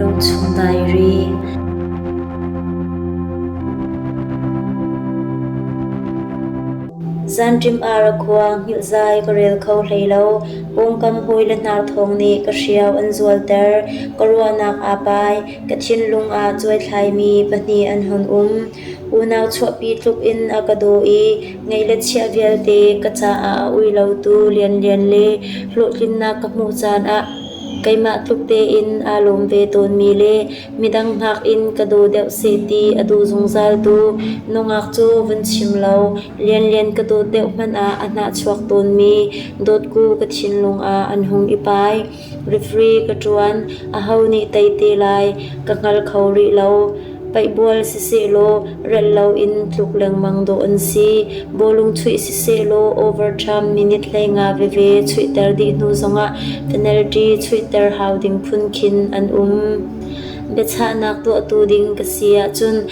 Lungchung Diary Zanṭim ar a khua hngilh zai ka rel kho hlei lo. Pawngkam hawi le hnar thawng nih ka hriau an zualter. Ka ruahnak aa pai. Ka thinlung ah cuaithlaimi pahnih an hon um. Unau chuahpi tluk in a ka daw i ngei le chiah vialte ka caah a ui lotu lianlian le hlawhtlinnak ka hmuh caan ah keimah tluk tein aa lawm ve tawnmi le midang hngak in ka daw deuh seh ti a duh zungzal tu nungak cu vun chim lo lianlian ka dawt deuh hmanh ah a hnahchuak tawnmi dawtku ka thinlung ah an hung i pai. Referee ka ṭuan, aho nih tei te lai ka hngal kho rih lo. Paihbual sisehlaw rel loin tluk lengmang dawh an si. Bawlung chuih sisehlaw overtime minute hlei nga veve chuihter dih hnu zongah penalty chuihter hau ding phun khin an um. Biachahnak tuahtu ding ka si ahcun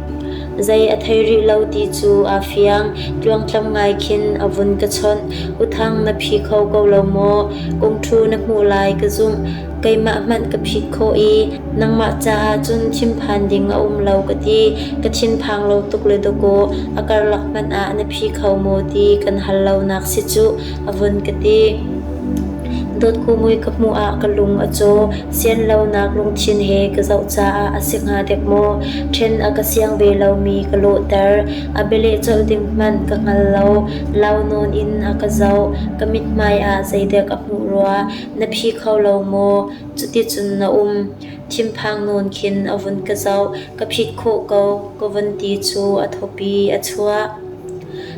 Zei a thei rih lo ti cu aa fiang, tluangtlam ngai khin a vun ka chawnh. Uthang na phi kho ko lo maw? Kungṭhu na hmuh lai ka zumh. Keimah hmanh ka phit khawh i nangmah caah cun thinphan ding a um lo ka ti. Ka thinphang lo tuk le dawkaw, a karlak hmanh ah na phi kho maw ti kan hal lonak si cuh. a vun ka ti. Dotku mui ka hmuh ah ka lung a caw. Sian lonak lungthin he ka zoh caah a si hnga dek maw? Ṭhen a ka siang ve lomi ka lawhter. A bialeh colh ding hmanh ka hngal lo. Lau nawn in a ka zoh. Ka mithmai ah zeidek a hmuh rua. Na phi kho lo maw? Cuticun na um. Thinphang nawn khin a vun ka zoh. Ka phit khawh ko. Ka vun ti cu a thawpi a chuah.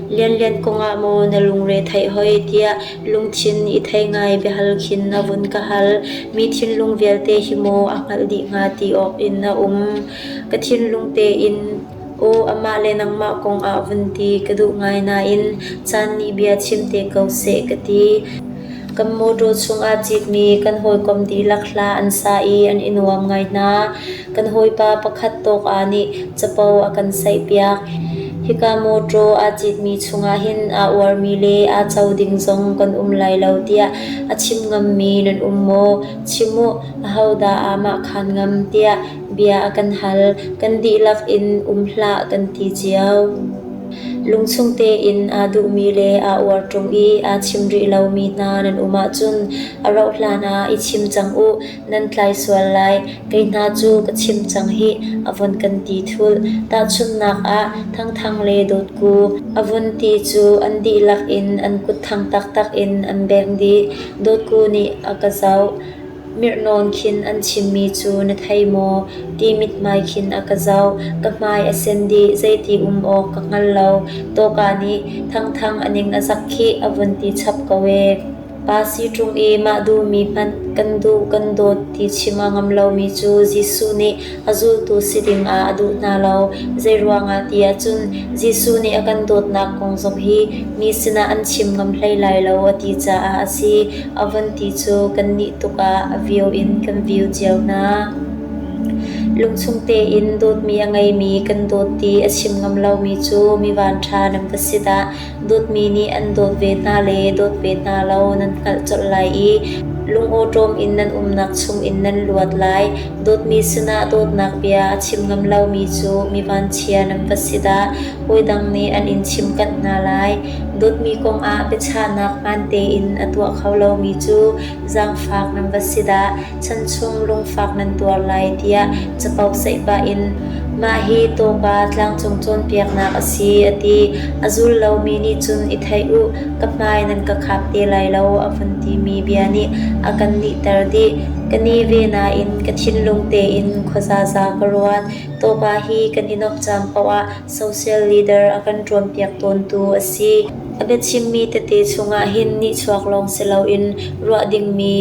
Lianlian kongah maw na lungre theih hoi tiah lungthin i thei ngai biahal khin na vun ka hal. Mi thinlung vialte hi maw a hngalh dih hnga ti awk in na um. Ka thinlung tein aw amah le nangmah kong ah vun ti ka duh ngai nain caan nih bia chim te ko seh ka ti. Kan mawṭaw chungah cikmi kan hawikom dihlak hla an sa i an i nuam ngai hna. Kan hawipa pakhat tawka nih capo a kan saihpiak. Hika mawṭaw aa citmi chungah hin aa uarmi le aa co ding zong kan um lai lo tiah a chim ngammi nan um maw? Chim u, ahodah aamah khan ngam tiah bia a kan hal. Kan dihlak in um hlah kan ti cio. Lungchung tein aa duhmi le aa uar ṭung i aa chim rih lomi hna nan um ahcun a rauhhlan ah i chim cang u. Nan tlai sual lai, kei hna cu ka chim cang hih, a vun kan ti thulh. Tahchunhnak ah, Thangthang le Dawtku, a vun ti cu an dihlak in an kutthang taktak in an beng dih. Dawtku nih a ka zoh. Mirhnawn khin an chimmi cu na thei maw? ti mithmai khin a ka zoh. Ka hmai a sen dih, zeiti um awk ka hngal lo. Tawka nih Thangthang a ning a zak khih, a vun ti chap ko ee. Pa si ṭung i mah duhmi hmanh kan duh kan dawt ti chim a ngam lomi cu Jesuh nih a zultu si dingah a duh hna lo. Zeiruangah ti ahcun Jesuh nih a kan dawtnak kong zong hi mi sinah an chim ngam hlei lai lo a ti caah a si. A von ti cu kannih tukah a view in kan view cio hna. Lungchung tein dawtmi a ngeimi kan dawt ti a chim ngam lomi cu mi vanṭha nan va si dah. Dawtmi nih an dawt ve hna le dawt ve hna lo nan hngalh colh lai i lungawṭawm in nan umnak chungin nan luat lai. Dawtmi sinah dawtnak bia a chim ngam lomi cu mi vanchia nan va si dah! Hawi dang nih an in chimkanh hna lai. Dawtmi kongah biachahnak hmaan tein a tuah kho lomi cu zaangfak nan va si dah! chan chung lungfak nan tuar lai tiah capo seih pah in mah hi tawka tlangcung cawnpiaknak a si a ti. A zul lomi nih cun i theih u ka hmai nan ka khap te lai lo a vun timi bia nih a kan nihter dih. Ka ni ve nain ka thinlung tein khua zaza ka ruat. Tawka hi kan i nok caan paoh ah Social leader a kan ṭuanpiak tawntu a si. A biachimmi tete chungah hin nihchuak lawng si loin ruah dingmi,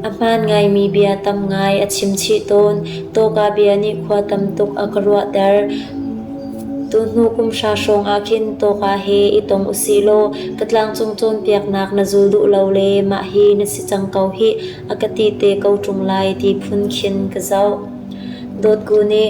a hmaan ngaimi bia tam ngai a chimchih tawn. Tawka bia nih khua tam tuk a ka ruahter. Tuhnu kum hra hrawngah khin tawka he i tong usih law ka tlangcung cawnpiaknak na zul duh lo le mah hi na si cang ko hih a ka ti te ko ṭung lai ti phun khin ka zoh. Dawtku nih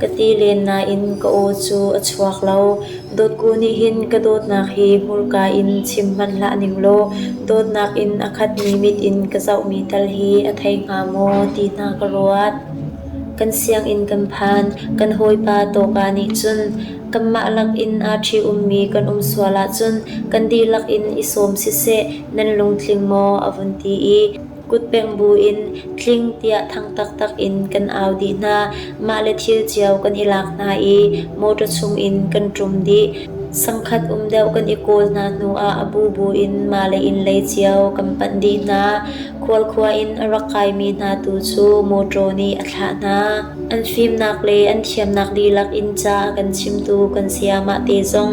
Ka ti len nain ka aw cu a chuak lo. Dawtku nih hin ka dawtnak hi hmurka in chim hmanh hlah ning law dawtnak in a khatmi mit in ka zohmi tal hi a thei hnga maw ti hna ka ruat. Kan sianginn kan phan, kan hawipa tawka nih cun kanmah lakin aa ṭhi-ummi kan um sual ahcun kan dihlak in i sawm siseh nan lungtling maw a vun ti i Kutpeng bu in tling tiah thang taktak in kan au dih hna. Mah le thil cio kan i lak hna i motor chungin kan ṭum dih. Sangkhat um deuh kan i kawl hna hnuah a bu bu in mah le innlei cio kan panh dih hna. Khualkhua in a rak kaimi hna tu cu motor nih a thlah hna. An fimnak le an thiamnak dihlak in ca a kan chimtu kan sayamah te zong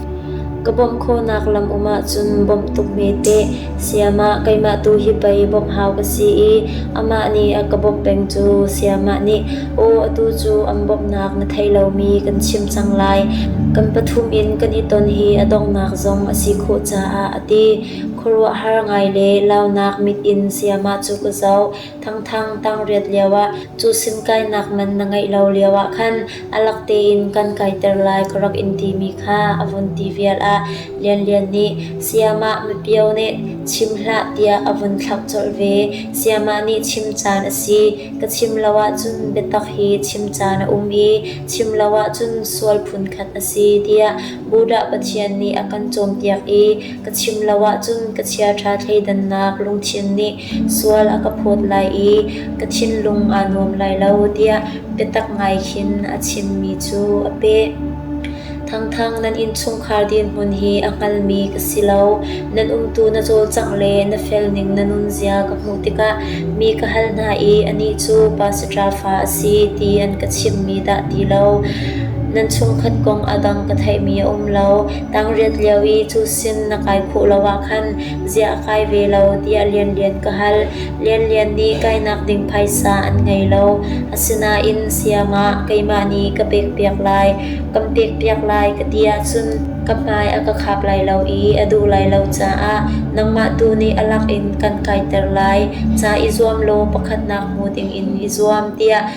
Ka bawmh khawhnak lam um ahcun bawmh tuk hme teh, sayamah keimah tu hi pei bawmh hau ka si i amah nih a ka bawmh peng cu sayamah nih aw atu cu an bawmhnak na thei lomi kan chim cang lai, kan pathum in kan i ton hi a donghnak zong a si khawh caah a ti. Khuaruahhar ngai le launak mit in sayamah cu ka zoh. Thangthang tang riat lioah cusim kainak man na ngeih lo lioah khan a lak tein kan kaiter lai ka rak in timi kha a vun ti vial ah Lianlian nih Sayamah mipio nih chim hlah tiah a vun thlak colh ve. Sayamah nih chim caan a si. Ka chim lo ahcun biatak hi chim caan a um i chim lo ahcun sual phunkhat a si tiah Buddha Pathian nih a kan cawnpiak i ka chim lo ahcun ka chiaṭha thleidannak lungthin nih sual a ka phawt lai i ka thinlung aa nuam lai lo tiah biatak ngai khin a chimmi cu a peh. Thangthang nan innchungkhar dirhmun hi a hngalmi ka si lo. Nan umtu na cawlcangh le na felning na nunzia ka hmuh tikah mi ka hal hna i anih cu pa saṭafa a si ti an ka chimmi dah ti lo. Nan chungkhat kong a dang ka theihmi a um lo. Tangriat lio i cu sin na kai phawh lo ah khan ziah a kai ve lo tiah Lianlian ka hal. Lianlian nih kainak ding phaisa an ngei lo. Asinain siangah keimah nih ka pekpiak lai, kan pekpiak lai ka ti ahcun ka hmai a ka khap lai lo i a duh lai lo caah nangmah tu nih a lak in kan kaiter lai. Ca i zuam law pakhatnak hmu dingin i zuam tiah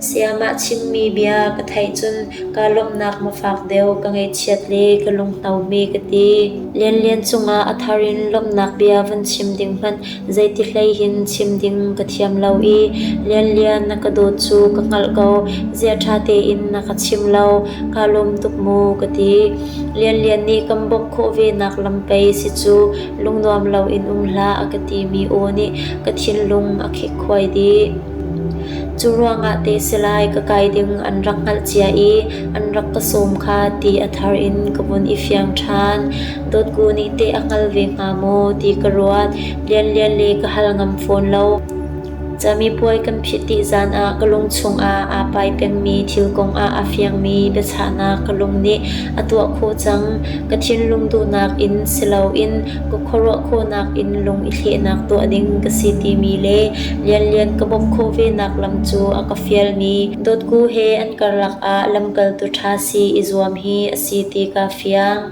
Sayamah chimmi bia ka theih cun kaa lawmhnak ma fak deuh ka ngaihchiat le ka lunghnomi ka ti. Lianlian cungah a thar in lawmhnak bia van chim ding hmanh zeiti hleihin chim ding ka thiam lo i Lianlian na ka dawt cu ka hngalh ko. Zia ṭha tein na ka chim lo, kaa lawm tuk mu ka ti. Lianlian nih kan bawmh khawh venak lam pei si cu lungnuam loin um hlah a ka timi aw nih ka thinlung a khekhuai dih. Curuangah teh si lai ka kai ding an rak hngalh cia i an rak ka sawm kha ti a thar in ka vun i fiang ṭhan. Dawtku nih teh a hngal ve hnga maw ti ka ruat. Lianlian le ka hal ngam fawn lo. Camipuai kan phit dih zan ah ka lung chungah aa pai pengmi thil kongah a fiangmi biachahnak ka lung nih a tuah khawh cang. Ka thinlung duhnak in si loin ka khuaruah khawhnak in lung i thlehnak tuah ding ka si timi le lianlian ka bawmh khawh venak lam cu a ka fialmi dotku he an karlak ah lamkaltu ṭha si i zuam hi a si ti ka fiang.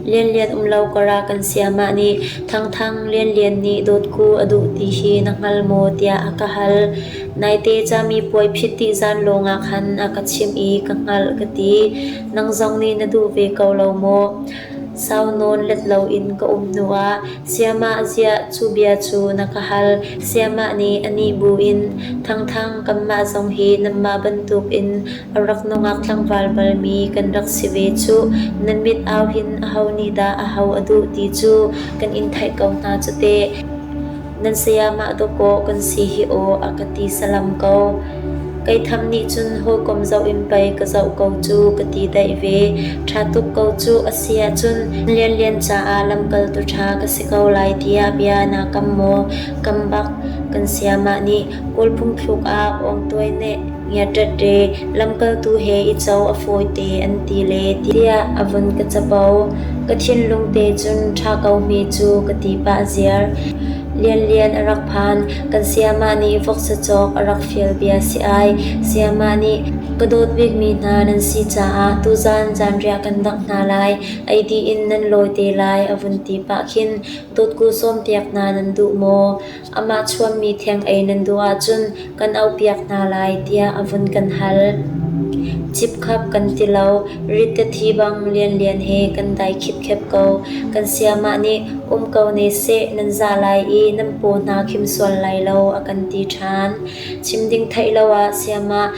Lianlian umlo kora kan siamah nih thangthang lianlian nih dotku a duh ti hi na hngal maw tiah a ka hal. Naite cami puai phit ti zan lawngah khan a ka chimh i ka hngalh ka ti. Nang zong nih na duh ve ko lo maw? Sau nawn let loin ka um hnuah Siamah ziah cu bia cu na ka hal, Siamah nih a nih buin, Thangthang kanmah zong hi nanmah bantukin a rak nungak tlangval balmi kan rak si ve cuh, nan mit auhin aho nih dah aho a duh ti cu kan in theih ko hna cu teh. nan sayamah dawkaw kan si hi aw a ka ti salam ko. Kei tham nih cun hawikom zoh in pei ka zoh ko cu ka ti daih ve. Ṭha tuk ko cu a si ahcun lianlian caah lamkaltu ṭha ka si ko lai tiah bia naa kam maw? Kam bak kan sayamah nih Kawlphung thluk ah Awngtuai nih ngiaṭaṭe lamkaltu he i co a fawite an ti le tiah a vun ka capo. Ka thinlung te cun ṭha ko hme cu ka ti pah ziar. Lianlian a rak phan. Kan sayamah nih voksa cawk a rak fial bia si ai. Sayamah nih ka dawt bikmi hna nan si caah tuzan zanriah kan dak hna lai. Ei dih in nan lawi te lai a vun ti pah khin dawtku sawmpiak hna nan duh maw? Amah chuahmi theng ei nan duh ahcun kan auhpiak hna lai tiah a vun kan hal. Cipkhap kan ti lo, rittetthi bang lianlian he kan dai khipkhep ko. Kan siamah nih um ko ne seh nan zah lai i nan paw hna khim sual lai lo a kan ti ṭhan. Chim ding theih lo ah siamah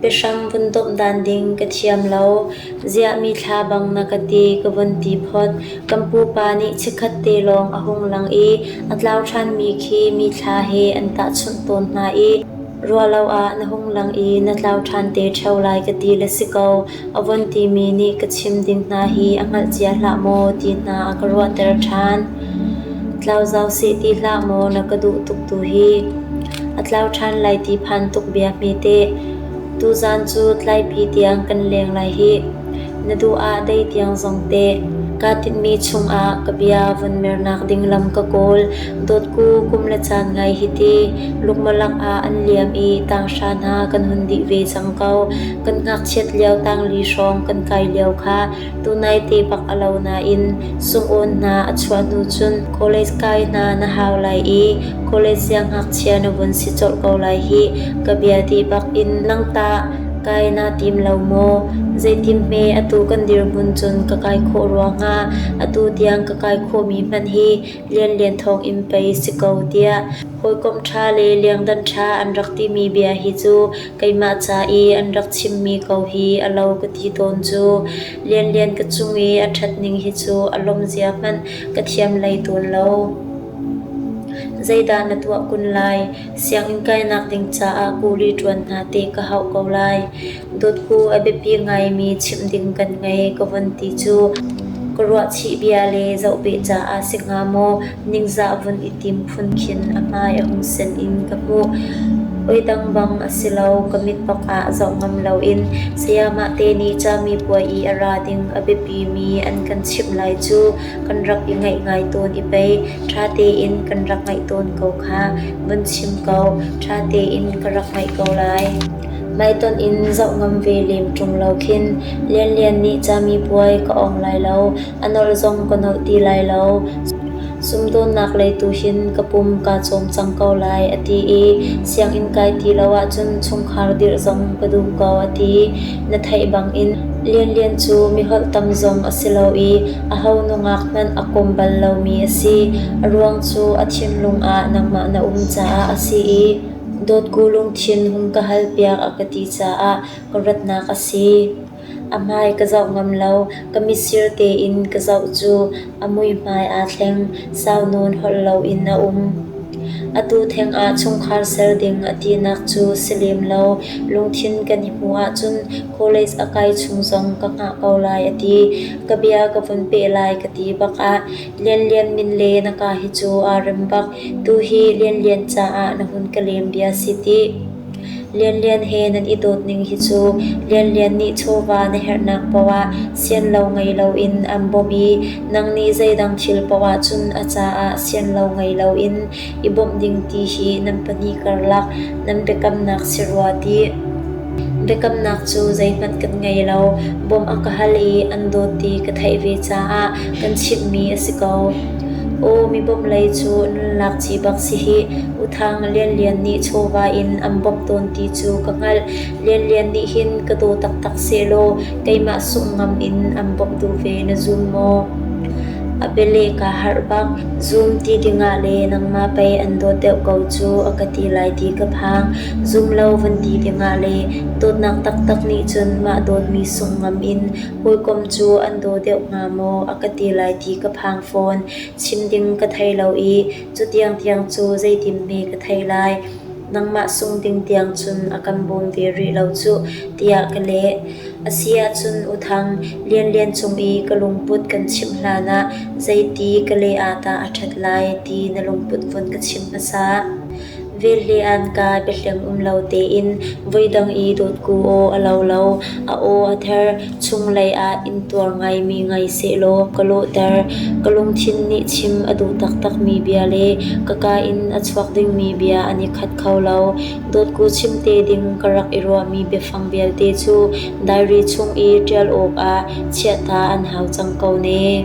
Biahram vun domhdan ding ka thiam lo, ziahmi thla bang na ka ti ka vun ti phot. Kan pupa nih chikkhat te lawng a hung lang i a tlau ṭhanmi khi mi thla he an tahchunh tawn hna i ruahlo ah na hung lang i na tlau ṭhan te ṭheo lai ka ti le si ko. A von timi nih ka chim ding hna hi a hngalh cia hlah maw ti hna a ka ruahter ṭhan. Tlau zau seh ti hlah maw na ka duh tuk tu hi. A tlau ṭhan lai ti phan tuk bia hme teh. Tuzaan cu tlaipi tiang kan leng lai hi. Na duh ah dei tiang zong teh. Kaa tinhmi chungah ka bia von mernak ding lam ka kawl. Dawtku kum le caan ngai hi ti. Lukmalak ah an liam i tanghra hna kan hun dih ve cang ko. kan ngakchiat lio tangli hrawng kan kai lio kha tunai te bak a lo nain sungawn hna a chuah hnu cun college kai hna na hau lai i college siangngakchia na vun si colh ko lai hi ka bia ti bak in langtah kai na tim lo maw zeitin hme atu kan dirhmun cun ka kai khawh rua hnga atu tiang ka kai khawhmi hmanh hi lianlian thawng in pei si ko tiah hawikom ṭha le liangdan ṭha an rak timi bia hi cu Keimah ca i an rak chimmi ko hi a lo ka ti tawn cu. Lianlian ka cung i a ṭhatning hi cu a lawm zia hmanh ka thiam hlei tawn lo. Zeidah na tuah kun lai? Sianginn kainak ding caah kuli ṭuan hna te ka hauh ko lai. Dawtku a biapi ngaimi chimh ding kan ngei ka von ti cu. Ka ruahchih bia le zoh beh caah si hnga maw? Ningzah vun i tim phun khin a hmai a hung sen in ka hmuh. Oi dang bang a si lo. Ka mit bak ah zoh ngam loin sayamah te nih cami puai i a ra ding a biapimi an kan chimh lai cu kan rak i ngaih ngai tawn i pei ṭha tein kan rak ngaih tawn ko kha. Vun chim ko, ṭha tein ka rak ngaih ko lai. Hmaitonh in zoh ngam ve lem ṭung lo khin Lianlian nih cami puai ka awng lai lo. A nolh zong ka nolh ti lai lo. Sumdawnnak lei tu hin ka pum kaa cawm cang ko lai a ti i sianginn kai ti lo ahcun chungkhar dirh zong ka duh ko a ti. Na theih bangin lianlian cu miholh tam zong a si lo i aho nungak hmanh a kawm bal lomi a si. A ruang cu a thinlung ah nangmah na um caah a si i dawtku lungthin hung ka halpiak a ka ti caah ka ratnak a si. A hmai ka zoh ngam lo, ka mitsir tein ka zoh cu a muihmai aa thleng, sau nawn holh loin a um. Atu thengah chungkhar ser ding a tinak cu si lem lo, lungthin kan i hmuh ahcun college a kai chung zong ka hngah ko lai a ti. Ka bia ka vun peh lai ka ti bakah Lianlian min le na ka hi cu aa rem bak, tuhi Lianlian caah na hun ka lem bia si tih. Lianlian he nan i dawt ning hi cu Lianlian nih chawva na herhnak paoh ah sianlo ngei loin an bawmh i nangnih zeidang thil paoh ahcun a caah sianlo ngei loin i bawmh ding ti hi nan pahnih karlak nan biakamnak si rua tih. Biakamnak cu zeihmanh kan ngei lo, bawmh a ka hal i an dawt ti ka theih ve caah kan chimhmi a si ko. Aw, mibawmh lei cu nunlak ci bak si hih. U Thang Lianlian nih chawva in an bawmh tawn ti cu ka hngalh. Lianlian nih hin ka daw taktak sehlaw keimah sungh ngam in an bawmhtu ve na zum maw? A biale kaa harh bak. Zum ti dingah le nangmah pei an dawt deuh ko cu a ka ti lai ti ka phang. Zum lo van ti dingah le dawtnak taktak nih cun mah dawtmi sungh ngam in hawikom cu an daw deuh hnga maw a ka ti lai ti ka phang fawn. Chim ding ka thei lo i Cutiang tiang cu zeitinhme ka thei lai, nangmah sung ding tiang cun a kan bawm ve rih lo cuh, tiah ka leh. A si ahcun U Thang, lianlian cung i ka lungput kan chimh hlanah zeiti ka leh ah dah a ṭhat lai ti na lungput vun ka chim hmasa. Vel le anka biahleng um lo tein voidang i dawtku aw a lo lo, a aw a ther, chunglei ah inntuar ngaimi ngei sehlaw ka lawhter. Ka lungthin nih chim a duh taktakmi bia le ka ka in a chuak dingmi bia an i khat kho lo. Dawtku chimte ding ka rak i ruahmi biafang vialte cu diary chung i ṭial awkah chiatta an hau cang ko ne.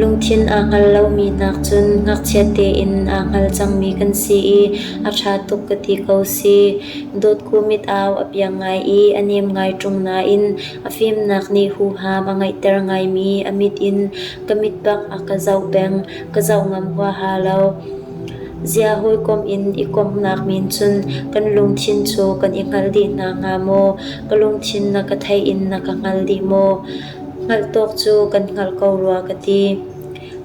Lungthin aa hngal lomi nak cun ngakchia tein aa hngal cangmi kan si i a ṭha tuk ka ti ko si. Dotku mit-au a piang ngai i a nem ngai ṭung nain a fimnak nih huham a ngeihter ngaimi a mit in ka mit bak a ka zoh peng. Ka zoh ngam huaha lo. Zia hawikom in i komhnak min cun kan lungthin cu kan i hngal dih hna hnga maw? Ka lungthin na ka theih in na ka hngal dih maw? Hngalhtawk cu kan hngalh ko rua ka ti.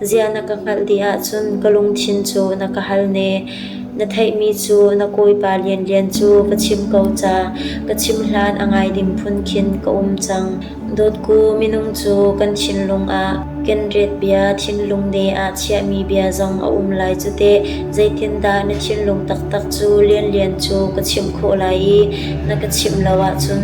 Zia na ka hngalh dih ahcun ka lungthin cu na ka hal ne. Na theihmi cu na kawipa lianlian cu ka chim ko ca. Ka chim hlan a ngai ding phun khin ka um cang. Dawtku minung cu kan thinlung ah kenret bia thinlung de ah chiahmi bia zong a um lai cu teh. Zeitindah na thinlung taktak cu lianlian cu ka chimh khawh lai i na ka chimh lo ahcun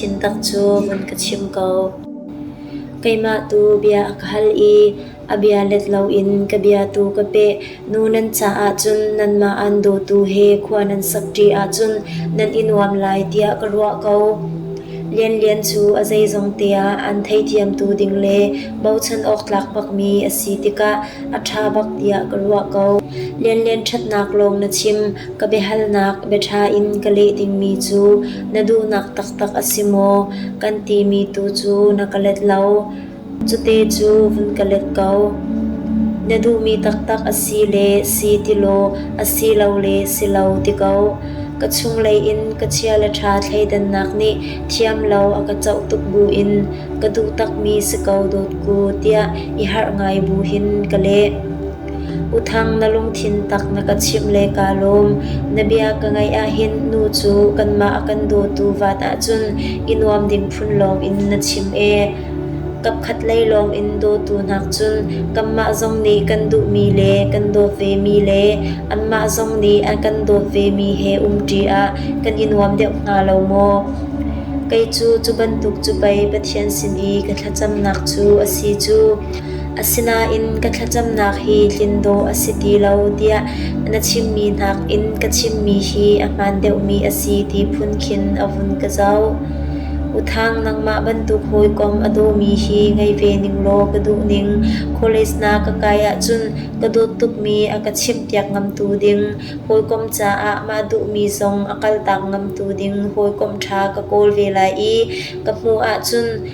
Thintak cu vun ka chim ko. Keimah tu bia a ka hal i a bia let loin ka bia tu ka peh. Nu nan caah cun nanmah an dawtu he khua nan sakṭi ahcun nan i nuam lai tiah ka ruah ko. Lianlian cu a zeizong teah an theithiamtu ding le bochan awk tlak bakmi a si tikah a ṭha bak tiah ka ruah ko. Lianlian ṭhatnak lawng na chim. Ka biahalnak biaṭha in ka leh dingmi cu na duhnak taktak a si maw? kan timi tu cu na ka let lo. Cute cu vun ka let ko. Na duhmi taktak a si le si ti law a si lo le si lo ti ko. Ka chunglei in ka chia le ṭha thleidannak nih thiam lo a ka coh tuk bu in ka duh takmi si ko dawt ku tiah i harh ngai bu hin ka leh. U Thang na lungthin tak na ka chimh le kaa lawm. Na bia ka ngaih ahhin nu cu kanmah a kan dawtu vaat ahcun i nuam ding phun lawng in na chim ee. Kapkhat lei lawng in dawtu hnak cun kanmah zong nih kan duhmi le kan dawt vemi le anmah zong nih an kan dawt vemi he um ṭi ah kan i nuam deuh hnga lo maw? Kei cu cu bantuk cu pei Pathian sin i ka thlacamnak cu a si cu. Asinain ka thlacamnak hi tlin dawh a si ti lo tiah na chimmi nakin ka chimmi hi a hmaan deuhmi a si ti phun khin a vun ka zoh. Uthang nangmah bantuk hawikom a dawmi hi ngei ve ning law ka duh ning. College na ka kai ahcun ka dawt tukmi a ka chimhpiak ngamtu ding, hawikom caah mah duhmi zong a kaltak ngamtu ding hawikom ṭha ka kawl ve lai i ka hmuh ahcun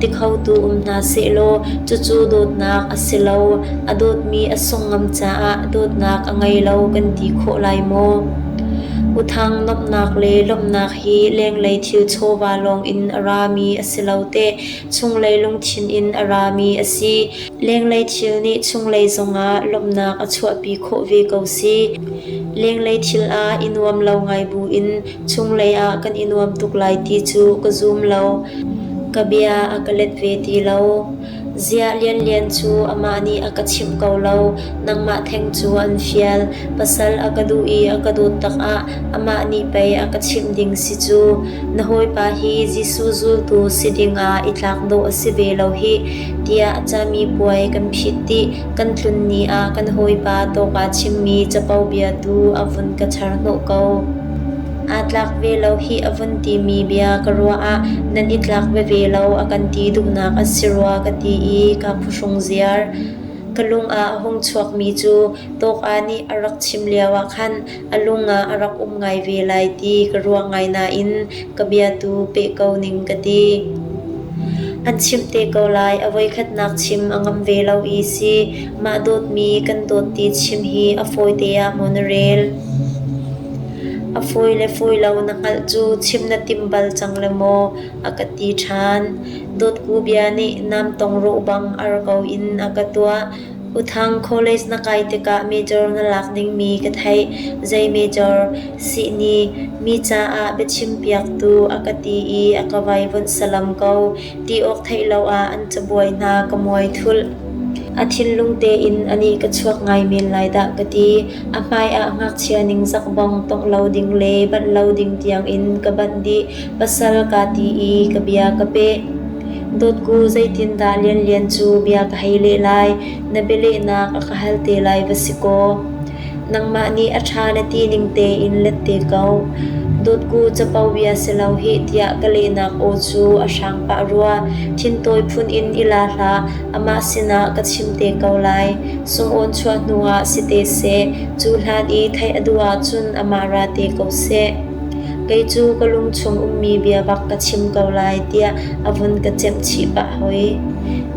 ti khotu um hna sehlaw cucu dawtnak a si lo, a dawtmi a sung ngam caah dawtnak a ngei lo kan ti khawh lai maw? Uthang nomhnak le lawmhnak hi lenglei thil chawva lawng in a rami a si lo teh chunglei lungthin in a rami a si. Lenglei thil nih chunglei zongah lawmhnak a chuahpi khawh ve ko si. Lenglei thil ah i nuam lo ngai buin Chunglei ah kan i nuam tuk lai ti cu ka zum lo. Ka bia a ka let ve ti lo. Ziah lianlian cu amah nih a ka chimh ko lo. Nangmah theng cu an fial. Pasal a ka duh i a ka dawt takah amah nih pei a ka chimh ding si cu. Na hawipa hi Jesuh zultu si dingah i tlak dawh a si ve lo hih, tiah cami puai kan phit dih. Kan tlun ni ah kan hawipa tawka chimmi capo bia tu a vun ka char hnawh ko. Aa tlak ve lo hih a vun timi bia ka ruah ah nan i tlak veve lo a kan ti duhnak a si rua ka ti i ka phuhrung ziar. Ka lung ah a hung chuakmi cu tawka nih a rak chim lioah khan a lung ah a rak um ngai ve lai ti ka ruah ngai nain ka bia tu peh ko ning ka ti. An chimh te ko lai a voikhatnak chim a ngam ve lo i si mah dawtmi kan dawt ti chim hi a fawi te ah maw na rel. A fawi le fawi lo na hngalh cu chim na tim bal cang le maw a ka ti ṭhan. Dawtku bia nih nam tong rawh bang ar ko in a ka tuah. Uthang College na kai tikah major na lak dingmi ka theih, zei major sihni mi caah biachimpiaktu a ka ti i a ka vai vunh salam ko ti awk theih lo ah an cabuai hna ka muai thulh. A thinlung tein anih ka chuak ngai men lai dah ka ti. A hmai ah ngakchia ningzak bong tongh lo ding le banh lo ding tiangin ka banh dih. pasal kaa ti i ka bia ka peh. Dawtku zeitindah Lianlian cu bia ka hei leh lai? Na bialehnak a ka hal te lai va si kaw. Nangmah nih a ṭha na ti ning tein let te ko. Dawtku capo bia si lo hih tiah ka lehnak aw cu a hrang pah rua. Thintawi phun in i la hlah, amah sinah ka chim te ko lai. Sungawn chuah hnuah si te seh, cu hlan i theih a duh ahcun amah ra te ko seh. Kei cu ka lungchung ummi bia bak ka chim ko lai tiah a vun ka chimhchih pah hoi.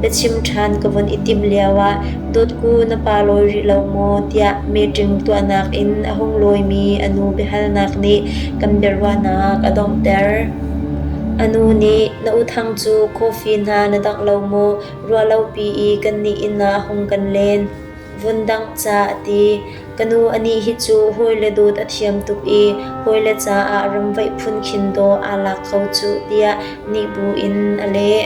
Biachim ṭhan ka vun i timh lioah dawtku na pa lawi rih lo maw tiah meeting tuahnak in a hung lawimi a nu biahalnak nih kan biaruahnak a donghter. A nu nih na u thang cu coffee hna na dangh lo maw ruahlopi i kannih inn ah hung kan len. vun dangh ca a ti. Ka nu a nih hi cu hawile dawt a thiam tuk i hawile caah ramvaih phunkhin dawh aa lak kho cuh tiah nih bu in a leh.